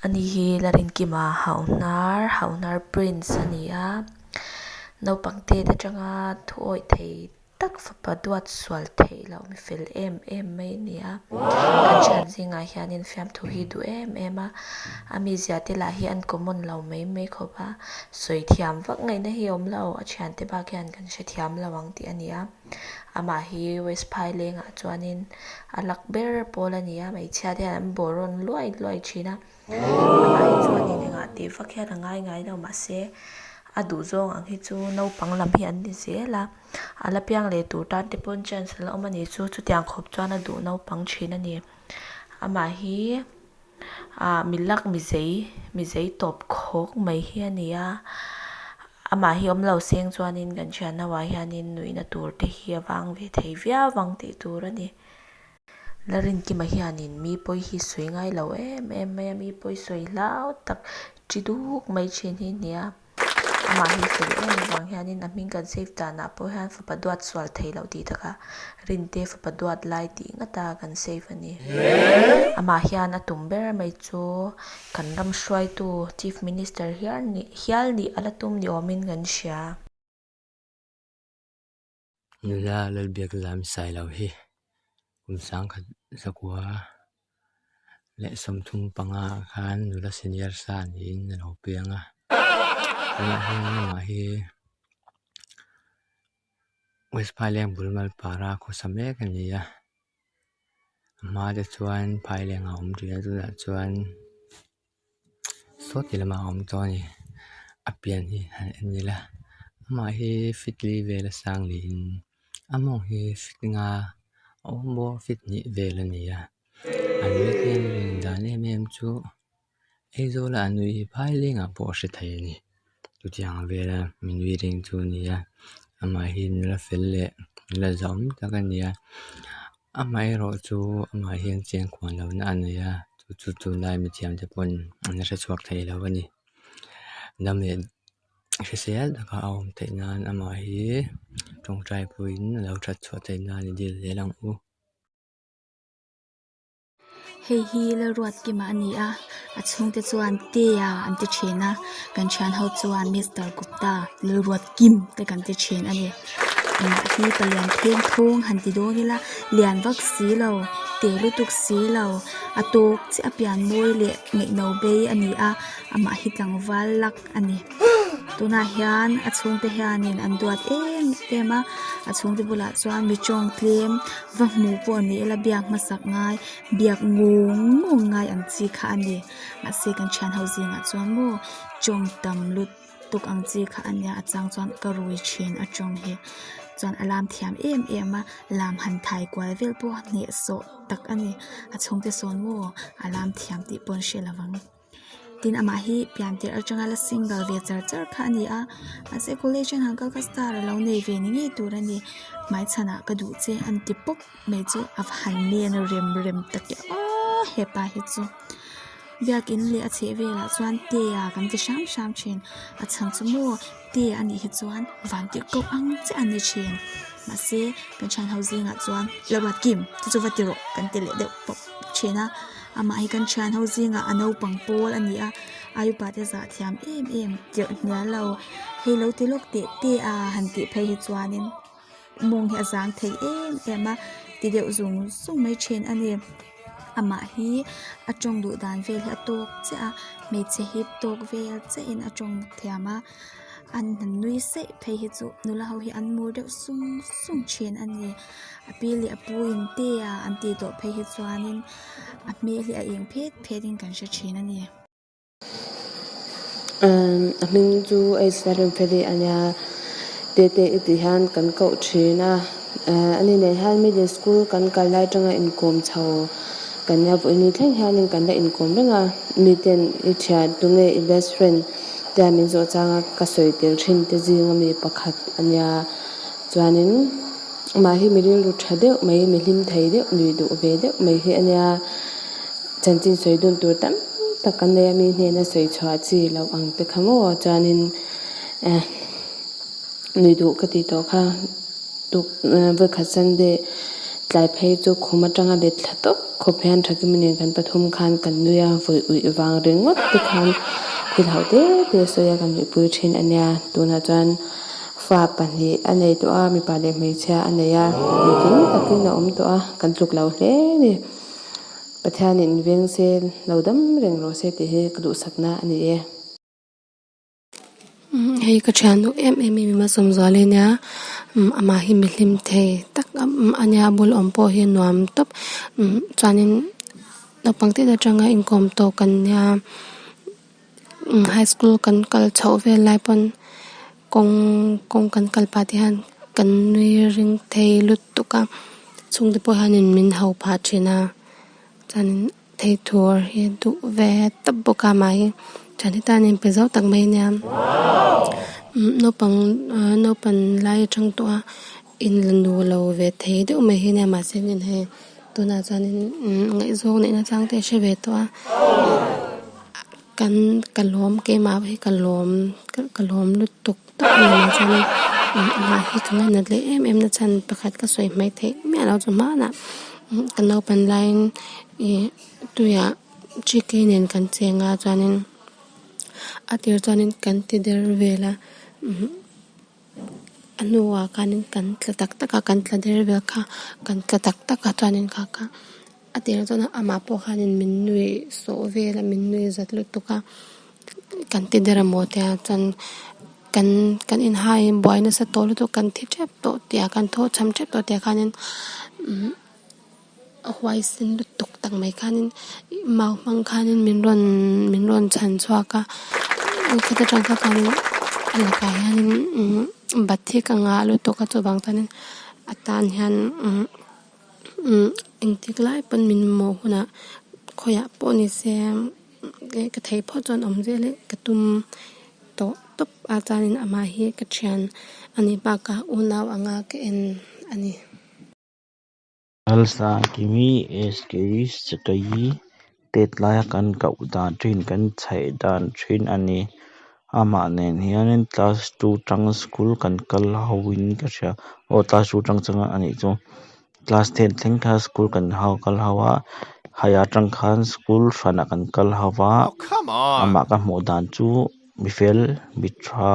Ani hi la rinkim a hauhnar hauhnar prince a ni a naupang te te tanga thu awih thei tak fapa duat sual theih loh mi fel em em mai a ni a kan thian zing ah hian in fiamthu hi duh em em a a mi zia te lah hi an common lo mai mai khawp a sawi thiam vak ngaihna hi awm lo a thian te bak hian-- an hre thiam lo ang tih a ni a. Amah hi West phai lengah chuanin a lak ber pawl a ni a, hmeichhia te hian an borawn luai luai thin a. Amah hi chuanin engah tih vak hian a ngai ngai lo mah se, a duh zawng ang hi chu naupang lam hi an ni zel a. A la piang leh tur tan te pawhin chance a la awm a nih chu, chutiang khawp chuan a duh naupang thin a ni. Amah hi. Ahh mi lak mi zei mi zei tawp khawk mai hi a ni a, amah hi awm lo seng chuanin kan thian ho ah hianin nuihna tur te hi a vang ve thei viau vang tih tur a ni. Narinkima hianin mi pawi hi sawi ngai lo em em mai a, mi pawi sawi hlau tak ṭi duk mai ṭhin hi a ni a. Amah hi fel em avang hianin a hming kan save danah pawh hian fapa duat sual thei loh tih taka rinte fapa duat lai tih ngata kan save a ni. Amah hian a tum ber mai chu kan ram hruaitu Chief Minister hiar nih hial nih a la tum ni awmin kan hria. Nula Lalbiak Lam Sai Lo hi kum sangkhat zakua leh sawmthum panga khan nula senior sa niin a lo piang a, tunah hian amah hi West Phailenh bul mal para khawsa mek a ni a, a hma te chuan Phailenh a awm tih a tunah chuan. Saw ti lamah a awm tawh a ni, a pian hi han en ngil a, amah hi fitli vel a sang niin a mawng hi fit nga a awm bawk fit hnih vel a ni a, a ni hian a rawn dan em em chu Aizawl a a nui hi phaileng ah pawh a hre thei a ni. chutianga vela min nui reng chu a ni a amah hi la fel leh la zawm tak a ni a amah erawh chu amah hian chian kuan lo na a ni a chu chu lai mi thiam te pawh an la hre chhuak thei lo a ni dam leh hrisel taka a awm theih nan amah hi tawngtai pawhin a lo that chhuah theih nan a ni dilh'zel ang u. Hei hi Lalruat kima a ni a, a chhungte chuan Tea an ti thin a, kan thian ho chuan Mister Gupta, Lalruat Kim te kan ti thin a ni. Mahni palian pheng thung han ti dawn ila, lian vak si lo, teh lutuk si lo, a tawk chiah a pian mawi leh ngaihno bei a ni a, amah hi tlangval lak a ni. tunah hian a chhungte hianin an duat em em a a chhungte bulah chuan mi tawng tlem va hmu pawh ni ila biak hmasak ngai biak nghawng nghawng ngai ang chi kha a ni mahse kan thianho zingah chuan maw tawng tam lutuk ang chi kha a nia a chang chuan ka rui thin a tawng hi chuan a lam thiam em em a lam han thai kual vel pawh a hneh sawh tak a ni a chhungte sawn maw a lam thiam tih pawh an hriat lovang. tin amah hi pian tir atanga la sing bal ve char char kha a ni a mahse college ah han kal ka star a lo nei ve ni ngei tur a ni hmai chhan ah ka duh che a ni ti pawp mai chu a han nen a rem rem ta teh a hepa hi chu biak in leh a chheh vel ah chuan te ah kan ti hrang hrang thin a chhang chu maw-- te a nih hi chuan van te kawp ang che a ni thin mahse kan thian ho zingah chuan lamah kim te chu va ti rawh kan ti leh deuh tawh thin a amah hi kan thian ho zingah a naupang pawl a ni a ai upa te zah thiam em em tirh hmel lo hei lo ti lawk teh te a han tih phei hi chuan in-- Mawng hi a zang thei em em a, ti deuh zung zung mai thin a ni. Amah hi a tawng duh dan vel hi a tawk chiah a, hmeichhe hi tawk vel chiah in a tawng thiam a, an han nui saih phei hi chu nula ho hi an mur deuh sung sung thin a ni. A pi leh a pu in te a an tih tawh phei hi chuan in a hmel hi a eng phet phet in kan hre thin a ni. A hming chu Asia rem feli a nia, Tete i tih hian kan koh thin a, a ni nei hian middle school kan kal lai atanga inkawm chho kan nia, Vawini thleng hian in kan la inkawm reng a, mi ten i ṭhia tu nge i best friend te a min zawh chang a, ka sawi tel thin te zing a mi pakhat a nia, chuanin. Mahni mi rilru tha deuh mai, mi hlim thei deuh, nuih duh ve deuh mai hi a nia. Chanchin sawi dun tur tam tak kan nei a, mi hnena sawi chhuah chi loh ang te kha maw chuanin eh nuih duh ka tih tawh kha. Vawikhat Sunday tlai phei chu khum atanga let thla tawp khawp hian tha kim nen kan pathum khan kan nui a, vawi ui vang ringawt te khan khut hauh te te sawi a kan nuihpui thin a nia. Tunah chuan. Fa pahnih a nei tawh a, mipa leh hmeichhia a nei a, ni tling takin a awm tawh a, kan tluk lo hle ni. Pathianin veng se lo dam reng rawh se tih hi ka duhsakna a ni e. Hei ka thian duh em em i mima sawmzual hi nia, amah hi mi hlim thei tak a nia, a bul awm pawh hi a nuam tawp. Chuanin naupang ten atanga inkawm tawk an nia. High school kan kal chhoh vel lai pawn kawng kawng kan kal pah te hian kan nui ring thei lutuk a chhung te pawh hian min ho phah thin a chuanin thei tur hi duh ve tawp bawk a mah hi thian he tan in pe zau tak mai a nia naupang naupang lai atang tawh a. In la nu lo ve thei deuh mai hi nia mahse nen hei tunah chuanin ngaihzawng neihna tlangte a hre ve tawh a kan ka lawm keimah hi ka lawm ka lawm lutuk tak mai ah chuanin amah hi ka ngaihna hle em em nasa chuan pakhat ka sawi hmai theih miah lo chu hmanah ka naupan laiin i tuiah gk nen kan cheng a chuanin a tir chuanin kan ti der vel a. a hnuah khanin kan tla tak tak a kan tla der vel kha kan tla tak tak a chuanin kha ka a tel dawn a amah pawh khanin min nui sawh vel a min nui zat lutuk a kan ti der a maw tia chuan kan kan inhai in buai nasa tawh lutuk kan thi tep tawh tih ah kan tho cham tep tawh tih ah khanin umm-- a huai sen lutuk tak mai khanin mau hmang khanin min rawn min rawn chhan chhuak a khata tan kha khanin a lakah hianin bat hi ka ngah lutuk a chuvang chuanin atan hian engtik lai pawn min mawh hunah khawiah pawh nise ka thei phawt chuan awm zel hi ka tum tawh tawp a chuanin amah hi ka thian ani bakah unau anga ka en ani. Lalsa Kimi Eskiri Sekayi pet laia kan koh dan thin, kan chhaih dan thin a ni. Amah nen hianin class two chang school kan kal ho in ka hria, aw class two chang chang a nih chu. Class ten thleng kha school kan hau kal hau a, high ah chang khan school hran ah kan kal hau a, amah ka hmuh dan chu mi fel mi tha.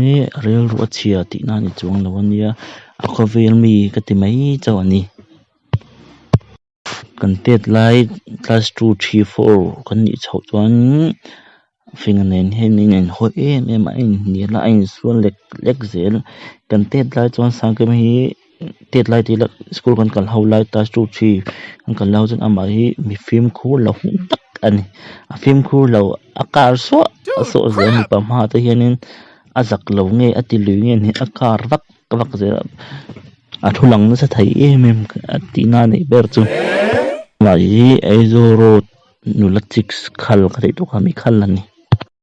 He rilru a chhia tih na ni chuang lo a nia, a khawvel mi ka ti mai chauh a ni. Kan tet lai class two, three, four kan nih chhoh chuan Fingna nen hian in a in hawi em em a, a in hnial a, a in sual lek lek zel. Kan tet lai chuan sangkema hi. Tet lai tih ila school kan kal ho lai ta chu khi kan kal lai ho chuan amah hi mi fimkhur lo hung tak a ni a fimkhur lo a kar suah a suah zel a mipa hma ah te hianin a zak lo nge a ti lui nge ni a kar vak vak zel a a thu lang nasa thei em em a tihna a nih ber chu mahni hi Aizawl road nula chik khal ka thei tawh kha mi khal a ni.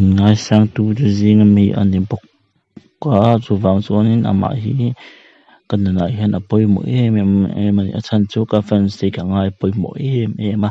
Ngaisangtu chu zing a mi a ni bawk a, chuvang chuanin amah hi ka nunah hian a pawimawh em em em a ni. A chhan chu ka fans hi ka ngai pawimawh em em a.